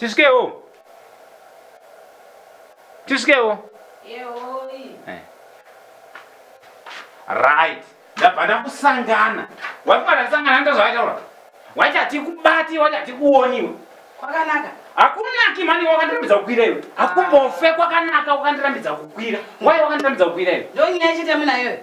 Tisvikewo. Tisvikewo. Yehoi. Eh. Right. Ndabva ndakusangana. Wafunga ndasangana ndoto zvawataura. Wachati kubati, wachati kuoniwa. Kwakanaka. Hakunaki mani wakandirambidza kukwira iwe. Hakumbofe kwakanaka wakandirambidza kukwira. Why wakandirambidza kukwira iwe? Ndonyaya chete muna iwe.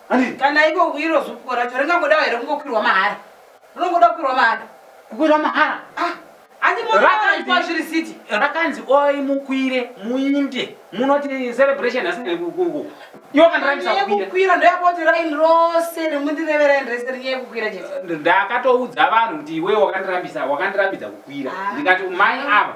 kana iko kuiro zupuko racho ringangodawo here kungokwirwa mahara rinongoda kukwirwa mahara kukwirwa mahara ah, rakanzi oi mukwire muinde munoti celebration asikukwira ndoyakoti raini rose rimundireveraini rese rinyaya kukwira chete ndakatoudza vanhu kuti iwe wakandirambisa wakandirambidza kukwira ah. ndikati mai ava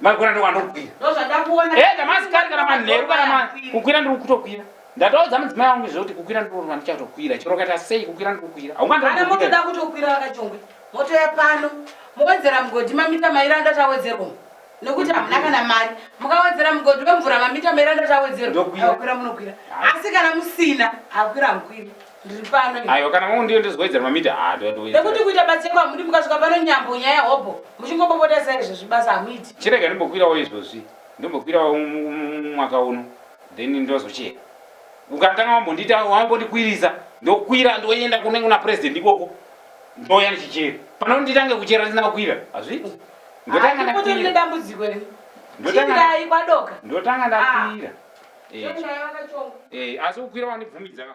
Magona ndo wanokwira. Ndozvadakuona. Eh, damasi kari kana manheru kana ma kukwira ndiri kutokwira. Ndataudza mudzimai wangu zvoti kukwira ndiri kurwa ndichatokwira. Chero kaita sei kukwira ndiri kukwira. Haungandi. Kana motoda kutokwira vakachongwe. Moto ya pano. Mowedzera mugodi mamita maira ndatawedzerwa. Nokuti hamuna kana mari. Mukawedzera mugodi wemvura mamita maira ndatawedzerwa. Ndokwira. Hakwira munokwira. Asi kana musina, hakwira hamukwiri. Ndiri pano. Aiwa kana mungu ndiyo ndizowedzera mamita haa ndowedzera. Nekuti kuita batseko hamudi mukasvika pano nyambo nyaya hobho muchingopopota sai izvo zvibasa hamuiti. Chirega ndimbokwirawo izvozvi ndimbokwirawo mwaka uno then ndozochera. Ukatanga wambondiita wambondikwirisa ndokwira ndoenda kune kuna president ikoko ndouya ndichichera. Pano nditange kuchera ndisina kukwira hazviti. Ndotanga ndakwira. Ndotanga ndakwira. asi kukwira wandibvumidza ka